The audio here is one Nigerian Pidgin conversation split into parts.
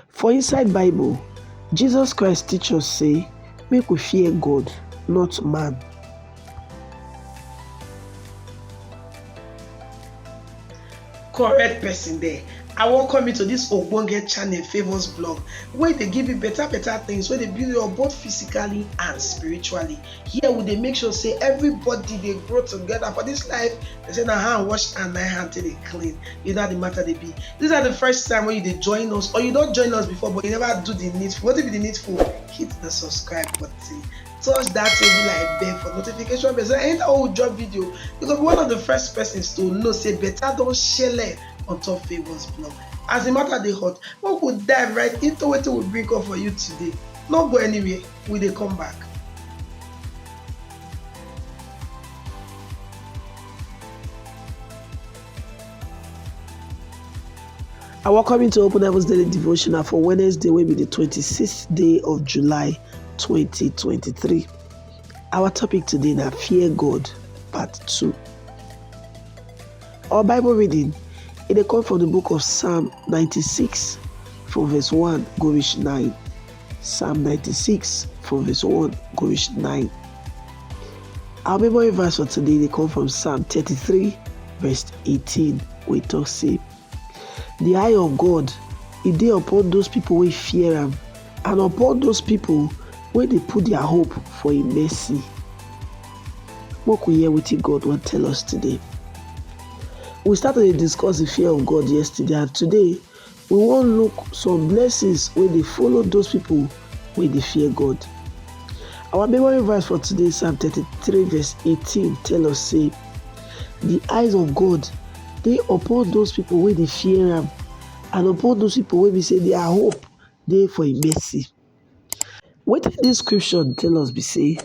For inside Bible, Jesus Christ teach us say make we fear God, not man. correct person there i welcome you to this ogbonge channel famous blog wey dey give you better better things wey dey build you up both physically and spiritually Here we dey make sure say everybody dey grow together for this life. They say na hand wash and na hand till dey clean. You know how the matter they be. This is the first time when you dey join us or you don't join us before but you never do the needful. What if the needful? Hit the subscribe button. Touch that table like bell for notification bell. So anytime we drop video, you go be one of the first persons to know say better don't share on top Favour's blog. As the matter they hot, we could dive right into what we bring up for you today. No go anywhere. we dey come back I welcome you to Open Heavens Daily Devotional for Wednesday, will be the 26th day of July 2023. Our topic today is Fear God, Part 2. Our Bible reading it comes from the book of Psalm 96, from verse 1, go reach 9. Psalm 96 from verse 1 go reach 9. Our memory verse for today they come from Psalm 33 verse 18 We talk say the eye of God e dey upon those people wey fear am and upon those people wey dey put their hope for im mercy. Make we hear wetin God wan tell us today. We start to dey discuss the fear of God yesterday and today We wan look some blessings wey dey follow those people wey dey fear God. Our memory verse for today, Psalm 33, verse 18, tell us say, The eyes of God dey upon those people wey dey fear am, and upon those people wey be say their hope dey for im mercy. Wetin this scripture tell us be say,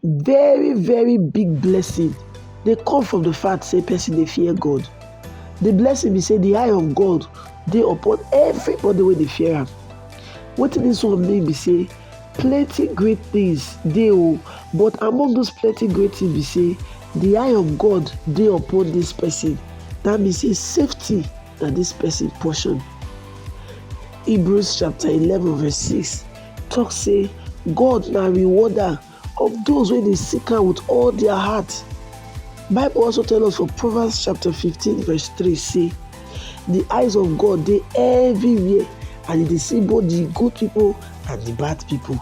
Very very big blessing dey come from the fact say person dey fear God. The blessing be say the eye of God dey upon everybody wey dey fear am. Wetin this one mean be say plenty great things dey o but among those plenty great things be say the eye of God dey upon this person. That means say safety na this person portion. Hebrews chapter 11 verse 6 talk say God na rewarder of those wey dey seek am with all their heart. Bible also tell us for Proverbs chapter 15 verse 3 say the eyes of God dey everywhere and e dey see both the good people and the bad people.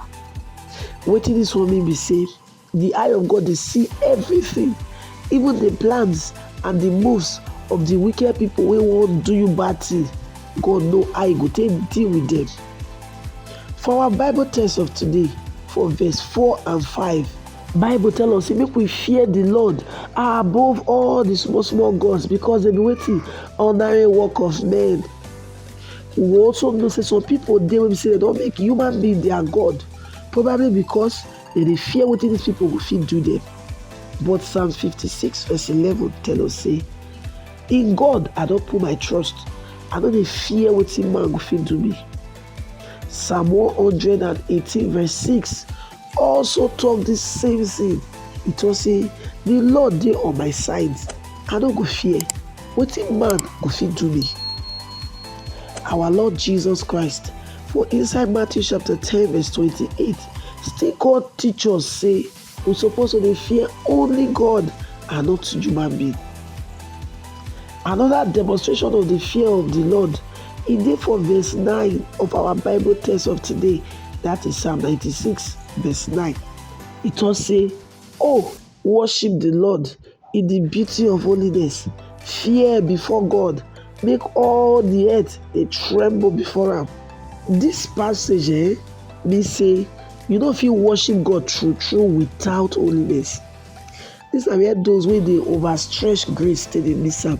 Wetin this one mean be say Di eye of God dey see evritin, even di plans and di moves of di wicked pipo wey wan do you bad tin. God know how e go take deal wit dem. For our Bible text of today, for verse four and five, Bible tell us sey make we fear di Lord above all di small small gods because dem be wetin? Ordinary work of men. We go also know sey some pipo dey wey be sey dem don make human being dia god, probably because. Dem dey fear wetin dis pipo go fit do dem. But Psalms 56 verse 11 tell us say, In God I don put my trust, I no dey fear wetin man go fit do me. Psalm 118 verse 6 also talk the same thing. It talk say, The Lord dey on my side, I no go fear. Wetin man go fit do me? Our Lord Jesus Christ For inside Matthew chapter 10 verse 28, still God teach us say we suppose to dey fear only God and not human being. Another demonstration of the fear of the Lord e dey for verse 9 of our Bible text of today, that is Psalm 96 verse 9. E talk say, Oh, Worship di Lord in di beauty of holiness, fear before God, make all di earth dey tremble before am. Dis passage eh, mean say you no fit worship God true true without holiness. Dis na where those wey dey overstretch grace take dey miss am.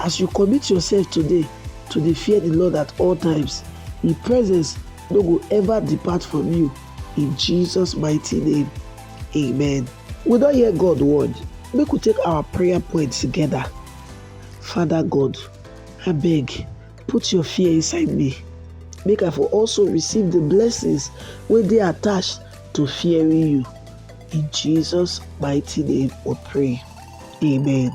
As you commit yourself today to dey fear the Lord at all times, His presence no go ever depart from you. In Jesus' mighty name, amen. We don hear God word. Make we take our prayer point together. Father God, I beg, put your fear inside me. Make I for also receive the blessings wey dey attached to fearing you. In Jesus' mighty name we pray. Amen.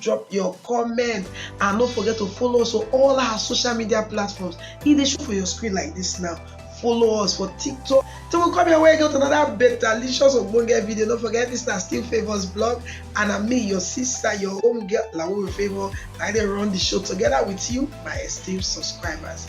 drop your comment and no forget to follow us on all our social media platforms e dey show for your screen like this now follow us for tiktok till we come your way get another better licious ogbonge video no forget this na still favours blog and na me your sister your home girl lawo favour na i dey run the show together with you my esteemed subscribers